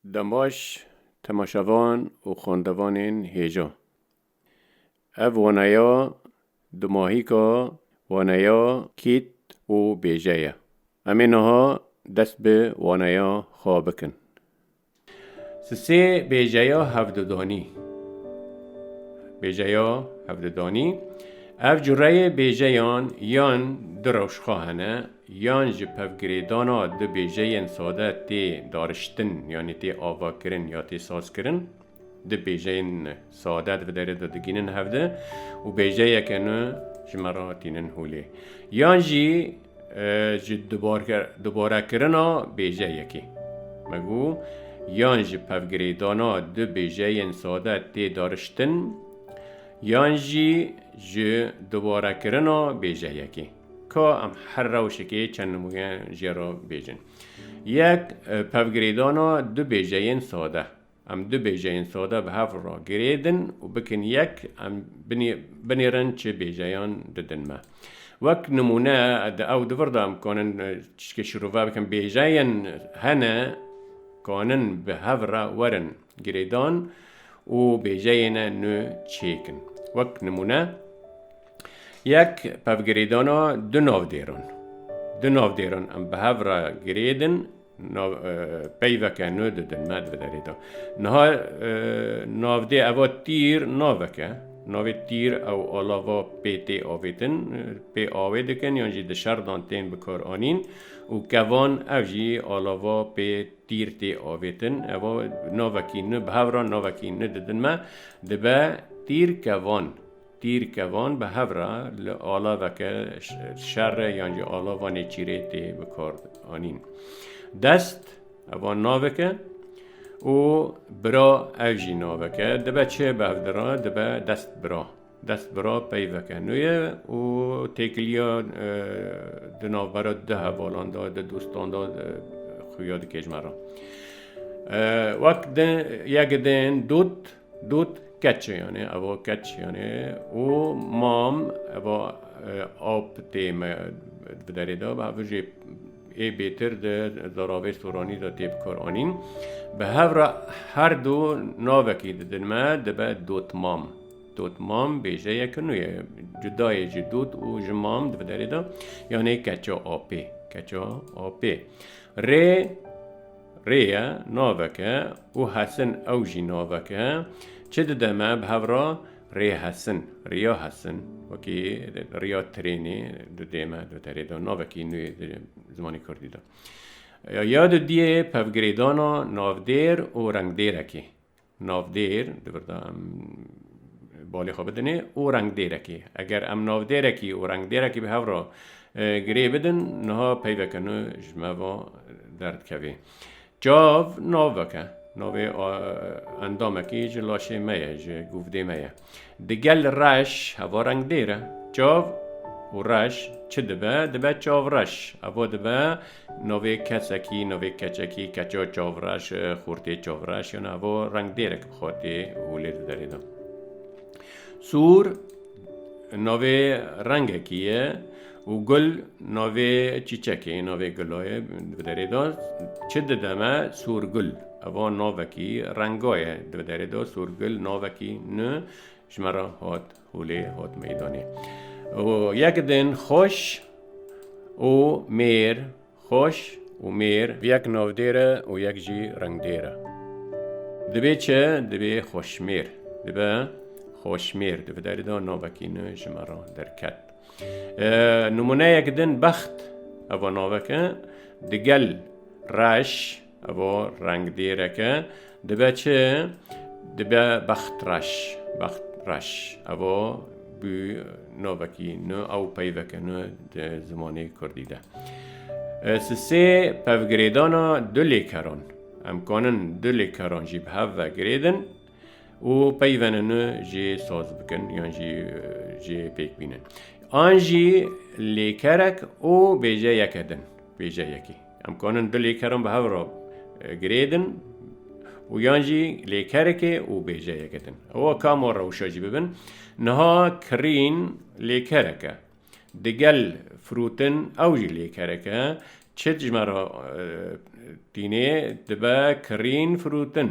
Dembaş, temaşevan û xwendevanên hêja. Ev waneya dumahîka waneya Kît û Bêje ye. Em ê niha dest bi waneya xwe bikin. Di sê bêjeya hevdudanî. Bêjeya hevdudanî, Ev cureyê bêjeyan yan du rewşxa hene Yan ji pevgirêdana du bêjeyên sade tê dariştin yanî tê avakirin ya tê sazkirin. Du bêjeyên sade di vê derê de digihînin hev de û bêjeyeke nû ji me re tînin holê. Yan jî ji dubarekirina bêjeyekê. Me got yan ji pevgirêdana du bêjeyên sade tê dariştin yan jî ji dubarekirina bêjeyekê. Ka em her rewşekê çend nimûne jê re bêjin. Yek, pevgirêdana du bêjeyên sade. Em du bêjeyên sade bi hev re girêdin û bikin yek, em binêrin çi bêjeyan didin me. Wek nimûne, di ew du vir de em kanin tiştê şirove bikin, bêjeyên hene kanin bi hev re werin girêdan û bêjeyên nû çêkin. Wek nimûne, Yek pevgirêdana du navdêran. Du navdêran em bi hev re girêdin, peyveke nû didin me di derê de. Niha navdê eva tîr naveke, navê tîr ew alava pê tê avêtin, pê awê dikin yan jî di şerdan tên bikaranîn û kevan ev jî alava pê tîr tê avêtin. Eva navekî nû bi hev re navekî nû didin me, dibe tîr kevan. Tîrkevan bi hev re li alaveke şer re yan jî alava nêçîrê tê bikaranîn. Dest, evan navek e û bira ev jî navek e. Dibe çi bi hev dire? Dibe destbira. Destbira peyveke nû ye û têkiliya di navbera du hevalan de, du dostan de xuya dikêjme re. Wek din, yek din dot Dût keç e yanê eva keç yanê û mam eva ap tê me bi derê de bi hev jê ê bêtir de zaravê soranî de tê bikaranîn. Bi hev re her du navekî didin me dibe dotmam. Dotmam bêjeyeke nû ye. Cudayê ji dot û ji mam di bi derê de yanê keça apê. Keça apê. Rê Rê ye, navek e û hesin ew jî navek e. Çi dide me bi hev re? Rê hesin, riya hesin. Wekî riya trênê di dê me di terê de navekî nû yê di zimanê kurdî de. Ya di diyê pevgirêdana navdêr û rengdêrekê. Navdêr, di vir de em balê xwe bidinê û rengdêrekê. Eger em navdêrekî û rengdêrekî bi hev re girê bidin, niha peyveke nû ji me ve derdikevê. Çav navek e. Navê endamekî ji laşê me ye, ji guvdê me ye. Digel reş evo rengdêr e. Çav û reş çi dibe? Dibe çavreş. Evo dibe navê kesekî, navê keçekî, keça çavreş, xortê çavreş yan evo rengdêrek bi xwe tê holê di derê de. Sûr navê rengekî ye. Û gul navê çîçekê ye, navê gula ye di derê de. Çi dide me? Sorgul. Ev a navekî renga ye di derê de. Sorgul navekî nû ji me re hat holê, hat meydanê. Û yek din xweş û mêr. Xweş û mêr yek navdêr e û yek jî rengdêr e. Divê çi? Divê xweşmêr. Dibe xweşmêr. Di vederî de navekî nû ji me re derket. Nimûneyek din bext. Ev navek e. Digel reş. Evo rengdêreke dibe çi? Dibe bext reş. Bext reş. Evo bû navekî nû ew peyveke nû di zimanê Kurdî de. Sisê pevgirêdana du lêkeran. Em kanin du lêkeran jî bi hev ve girêdin û peyvene nû jê saz bikin yan jî jê pêk bînin. An jî lêkerek û bêjeyeke din. Bêjeyekî. Em kanin du lêkeran bi hev re girêdin û yan jî lêkerekê û bêjeyek edin. Ewa ka ma rewşa jî bibin. Niha kirîn lêkereke. Digel firûtin ew jî lêkereke. Çi dijmera tînê dibe kirîn firûtin.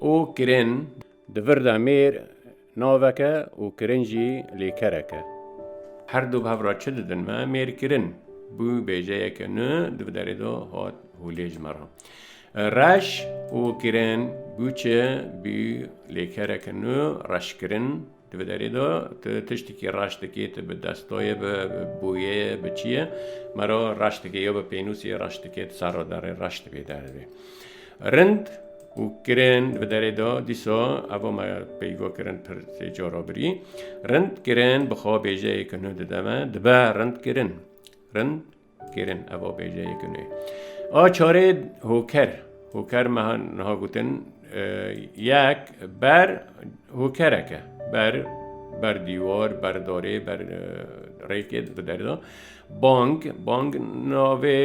û kirin di vir de mêr navek e û kirin jî lêkerek e. Her du bi hev re çi didin me? Mêr kirin bû bêjeyeke nû di bi derê de hat hûlê ji me re. Reş û kirin bû çi? Bû lêkereke nû reşkirin. Tu bi derê de tu tiştekî reş dikî, tu bi destoyê, bi boyê, bi çi yê me re reş dikî, ya bi pênûsê reş dikî, tu serra derê reş dibî derdibî. Rind û kirên bi derê de dîsa ev me peyva kirin pir sê cara birî. Rind kirên bi xwe bêjeyê kinu dide me, dibe rind kirin. Rind Kêrin eva bêje yekin ê. A çarê hoker hoker meha niha gotin yek ber hokereke ber ber dîwar ber darê ber rêkê di derda bang bang navê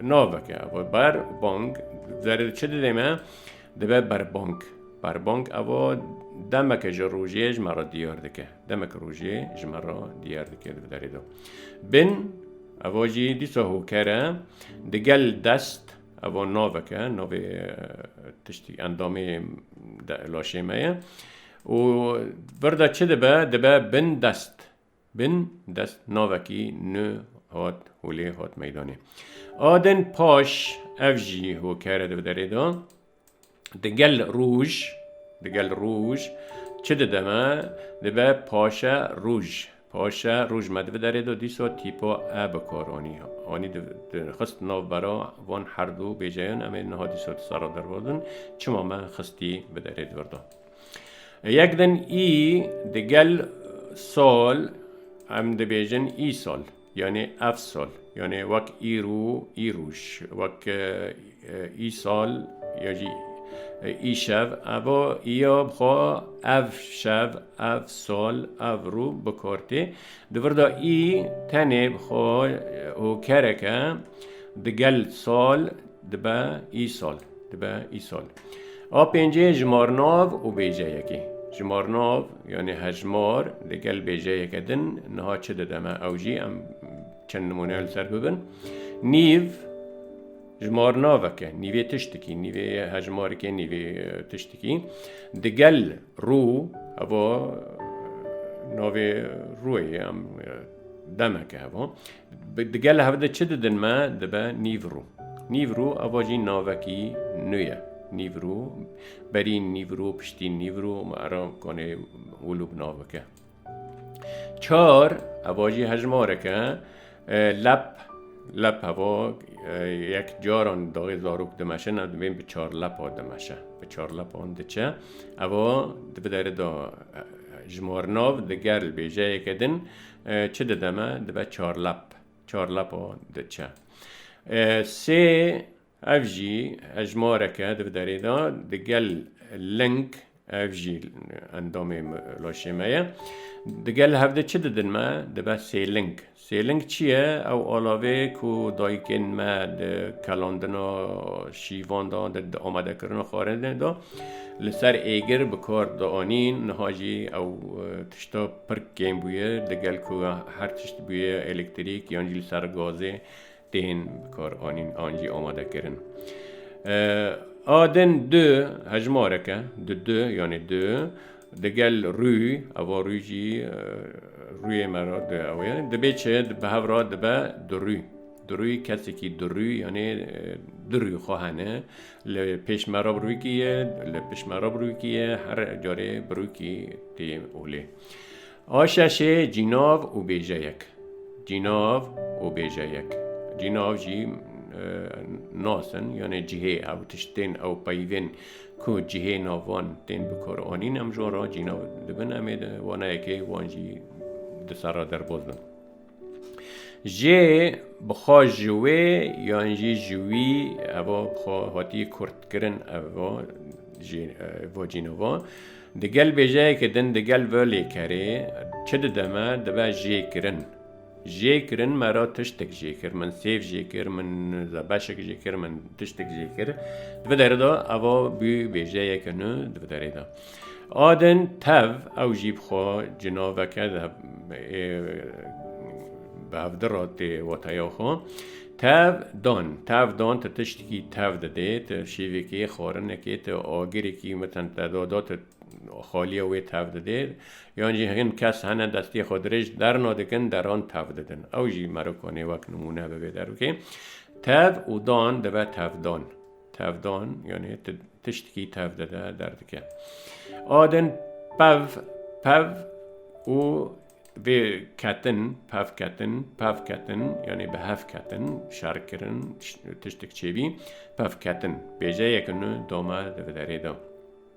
naveke eva ber bang zer çi didê me Dibe berbang. Berbang eva demeke ji rojê ji me re diyar dike. Demeke rojê ji me re diyar dike di derê de. Bin eva jî dîsa hoker e. Digel dest eva navek e, navê tiştî endamê laşê me ye. Û vir de çi dibe? Dibe bin dest. Bin dest navekî nû hat û lê hat meydanê. A din paş ev jî hokere di derê de di gel rûj di gel rûj çi dide me dibe paşe rûj paşe rûj me di derê de dîsa tîpa e bi kar anî anî xist nav bera van herdû bêjeyan em ê niha dîsa di sara dervadin çima me xistî bi derê di vir de. Yek din î digel sol em dibêjin îsol yanê efsol yanê wek îro îroj wek îsal ya jî îşev evo îya bi xwe ev şev ev sol ev rû bi kar tê di vir de î tenê bi xwe hokereke digel sol Dibe îsal, dibe îsal. A pêncê jimarnav û bêjeyekê. Jimarnav yanî hejmar li gel bêjeyeke din niha çi dide me ew jî em çend nimûneya li ser bibin. Nîv jimarnaveke, nîvê tiştikî, nîvê hejmarikê, nîvê tiştikî. Di gel rû heva navê rûyê em demeke heva. Di gela hev de çi didin me dibe Nîvru. Nîvru ava jî navekî nû ye. Nîvru, berî Nîvru, piştî Nîvru û me era konê wil û bi nav bike. Çar ava jî hejmarek e. Lep, lep ava yek caran daxê zarok dimeşin ev divên bi çar lepa dimeşe. Bi çar lepan diçe. Ava di bi dere de jmarnav di gerl bêjeyeke din Çi dide me? Dibe çar lep. Çar lepa diçe. Sê ev jî hejmareke di derê de di gel ling ev jî endamê laşê me ye. Di gel hev de çi didin me? Dibe sêling. Sêling çi ye? Ew alavê ku dayikên me di kelandina şîvan de di amadekirina xwarinê de li ser êgir bi kar dianîn niha jî ew tişta Pir kêm bûye digel ku her tişt bûye elektrîk yan jî li ser gazê tên bikaranîn an jî amadekirin. A din du hejmarek e di du yanê du digel rûy eva rûy jî rûyê me re di ew ê dibê çi di bi hev re dibe du rûy. Durû kesekî durû yanê durû xwe hene li pêş me re birûkî ye li pişt me re birûkî ye her carê birûkî tê olê. A şeşê cînav û bêjeyek. Cînav û bêjeyek. Cînav jî nasin yanê cihê ew tişt tên ew peyvên ku cihê navan tên bi kar anîn em ji wan re cînav dibin em ê wana yekê wan jî di ser re derbas bin. Jê bi xwe ji wê yan jî ji wî evo bi xwe hatiye kurtkirin evo jê evo cînovo di gel bêjeyekê din di gel ve lêkerê çi dide me dibe jê kirin. Jê kirin me ra tiştek jê kir min sêv jê kir min zebeşek jê kir min tiştek jê kir. Di vê derê de evo bî bêjeyeke nû di vê derê de. Adin tev ew jî bi xwe cinaveke de bi hevdi re tê wateya xwe. Tev dan, tev dan te tiştekî tev didê, te şêvekê, xwarinekê, te agirekî meten te dada te xaliya wê tev didê. Yan jî hin kes hene destê xwe dirêj derna dikin, deran tev didin. Ew jî merokanê wek nimûne bibê derokê. Tev û dan dibe tevdan. Tevdan yani tiştki tev de de derdike. Adin pev, pev û vê ketin, pev ketin, pev ketin yani bi hev ketin, şerkirin, tiştik çêbî, pev ketin. Bêjeyek nu doma di vederê da.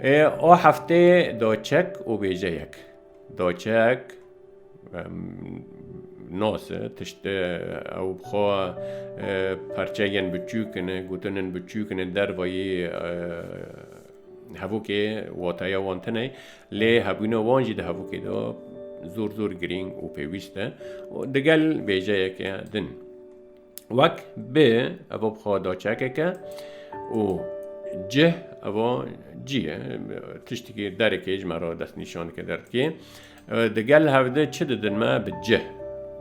Ê o hefteyê doçek û bêjeyek. Doçek nose tişt ew xwe parçeyên biçûkin e gotinin biçûkin e dervayî hevokê wataya wan tune lê hebûna wan jî di hevokê de zor zor girîng û pêwîst e digel bêjeyeke din. Wek bi evo bi xwe da çekeke û cih evo cî ye tiştekî derekê ji me re destnîşaneke derdikê. Di gel hevde çi didin me bi cih.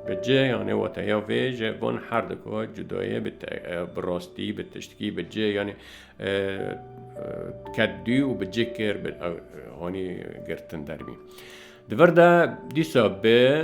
Bi cih yanê wateya vê ji bon her di ku cudayê bi bi rastî bi tiştekî bi cih yanê ket dû û bi cih kir bi hanî girtin derbî. Di vir de dîsa bi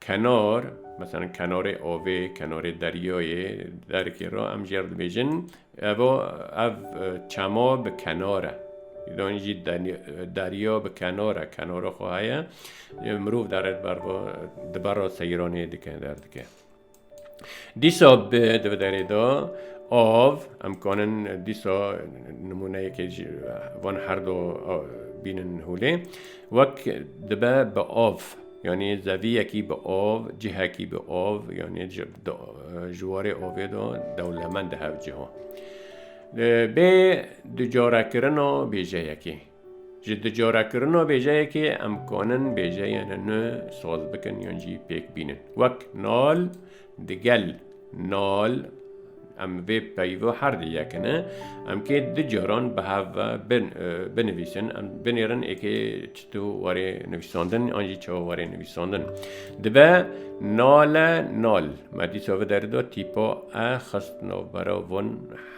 Kenar, mesela kenarê avê, kenarê deryayê, derikê re em jêr dibêjin eva ev çema bi kenar e. Îranî jî derya bi kenar e, kenara xwe heye. Mirov dere di bera seyranê dike, derdike. Dîsa bi di bi derê de av em kanin dîsa nimûneyekê ji van her do bînin hûlê wek dibe bi av yanî zeviyekî bi av cihekî bi av yanî ji warê avê de dewlemend hevciha bê ducarekirina bêjeyekê Ji dicorekirina bêjeyekê em kanin bêjeyên nû saz bikin yan jî pêk bînin. Wek nal, digel, nal, em vê peyva her di yek ne. Em kê du caran bi hev ve binivîsin. Em binêrin êkê çito warê nivîsandin an jî çawa warê nivîsandin. Dibe nale nal. Me dîsa vi derida tîpa e xist navbera van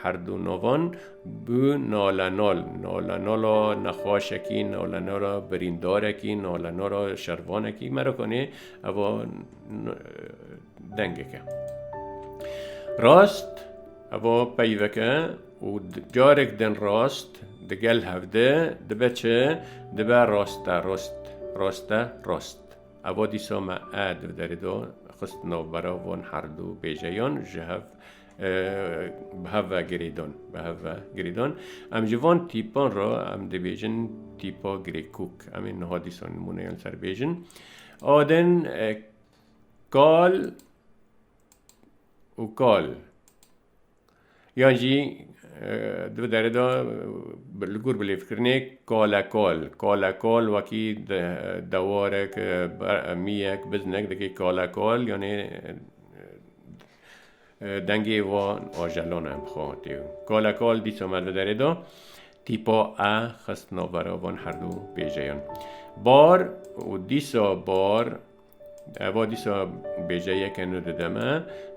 her du navan. Bi nalenal, nalenala nexwaşekî, nalenala birîndarekî, nalenala şervanekî me re konê eva dengek e. Rast eva peyvek e û carek din rast digel hevde dibe çi dibe raste rast raste rast. Eva dîsa me e di derê de xist navbera van herdû bêjeyan ji hev bi hev ve girêdon bi hev ve girêdon em ji van tîpan re em dibêjin tîpa girêkûk em ê niha dîsa nimûneyan ser bêjin adin kal û kal yan jî di derê de li gor bi lêvkirinê kale kal kale kal wekî dewarek miyek biznek dikê kale kal yanê Dengê wan ajelan e, bixwe hatê û kale kal dîsa me li derê da. Tîpa e xist navbera van herdû bêjeyan. Bar û dîsa bar Eva dîsa bêjeyeke nû dide me.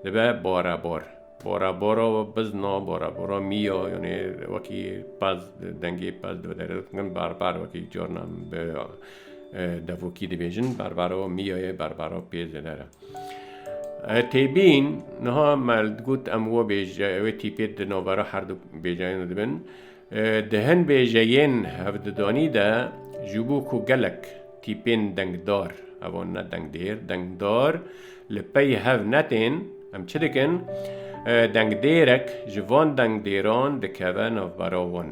Dibe barebar. Barebara bizna, barebara mîya yanê wekî pez dengê pez dibe derê dikin berber wekî carna bi devokî dibêjin berbera mîya ye berbera pêzê ne re. Têbîn niha me digot em we bêje wê tîpê di navbera her du bêjeyên de dibin. Di hin bêjeyên hevdidanî de ji bo ku gelek tîpên dengdar evan ne dengdêr dengdar li pey hev netên em çi dikin dengdêrek ji van dengdêran dikeve navbera wan.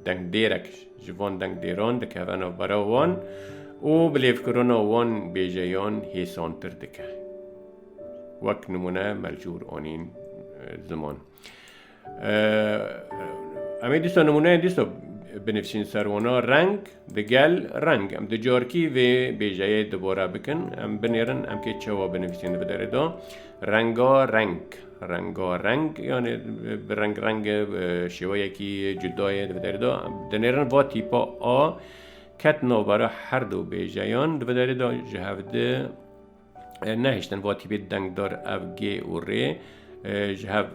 Dengdêrek ji van dengdêran dikeve navbera wan û bi lêvkirina wan bêjeyan hêsantir dike. Wek nimûne Melcûr anîn ziman. Em ê dîsa nimûneyên dîsa binivîsîn ser wana reng digel reng. Em di carkî vê bêjeyê dubare bikin. Em binêrin em kê çawa binivîsîn di bi derê de. Renga reng. Rengareng yanê bi reng renge bi şêweyekî cuda yê di derê de di nêrin va tîpa a ket navbera her du bêjeyan di derê de ji hev di nehiştin va tîpê dengdar ev gê û rê ji hev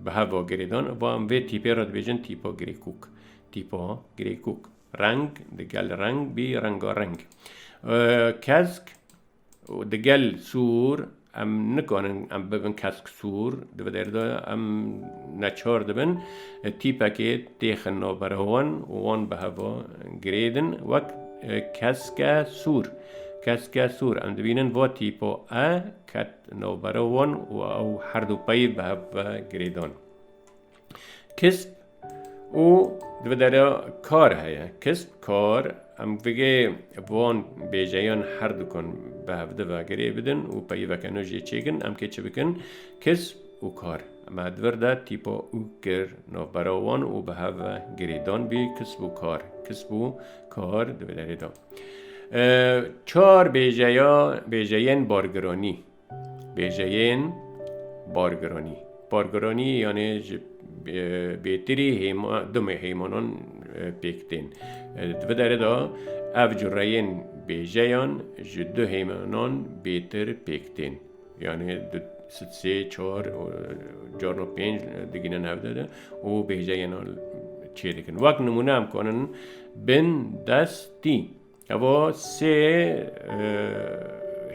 bi hev va girêdan va em vê tîpê re dibêjin tîpa girêkûk tîpa girêkûk reng di gel reng bî rengareng kesk û di gel sûr em nikarin em bibin kesk sûr di vê dêrê de em neçar dibin tîpekê têxin navbera wan û wan bi heva girêdin wek keske sûr keske sûr em dibînin va tîpa e ket navbera wan û ew herdû peyv bi hev ve girêdan. Kisp û divê dere kar heye. Kisp kar em vê van bêjeyan her dikan bi hevdi ve girê bidin û peyiveke nû jê çêkin em kê çi bikin kisp û kar em edvir de tîpa û kir navbera wan û bi hev ve girê dan bî kisp û kar kisp û kar divê derê da. Çar bêjeya bêjeyên bargiranî. Bêjeyên bargiranî. Bargiranî yanê ji bêtirî dumê hêmanan pêk tên. Di vê derê de ev cureyên bêjeyan ji du hêmanan bêtir pêk tên. Yanê sê çar carna pênc digînin hev de de û bêjeyên çê dikin. Wek nimûne em kanin bin destî. Evo sê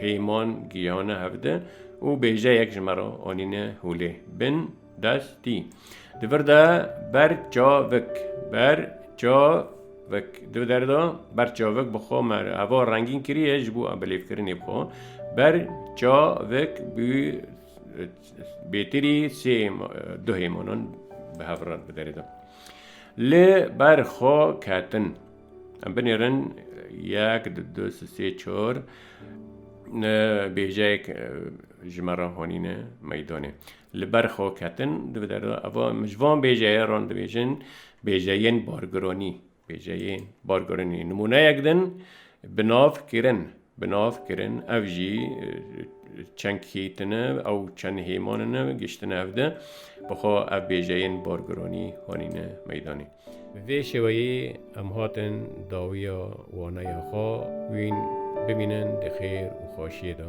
heyman giyane hevde û bêjeyek ji me re anîne holê. Bin dest tî. Di vir de ber çavik, ber çavik. Di der de ber çavik bi xwe me re. Evo rengîn kiriye ji bo bilêvkirinê bi xwe. Ber çavik bû bêtirî sê du heymanan bi hev re bi derê de. Li ber xwe ketin. Em binêrin yek di du si sê çor bêjeyek ji me re honîne meydonê. Li ber xwe ketin divê derda eva em ji van bêjeye ran dibêjin bêjeyên bargironî bêjeyên bargironî nimûneyek din bi nav kirin bi nav kirin ev jî çend kî tune ew çend hêman ne giştine ev de bixwe ev bêjeyên bargironî hanîne meydanê. Bi vê şêweyê em hatin dawiya waneya xwe wîn bimînin di xêr û xweşiyê de.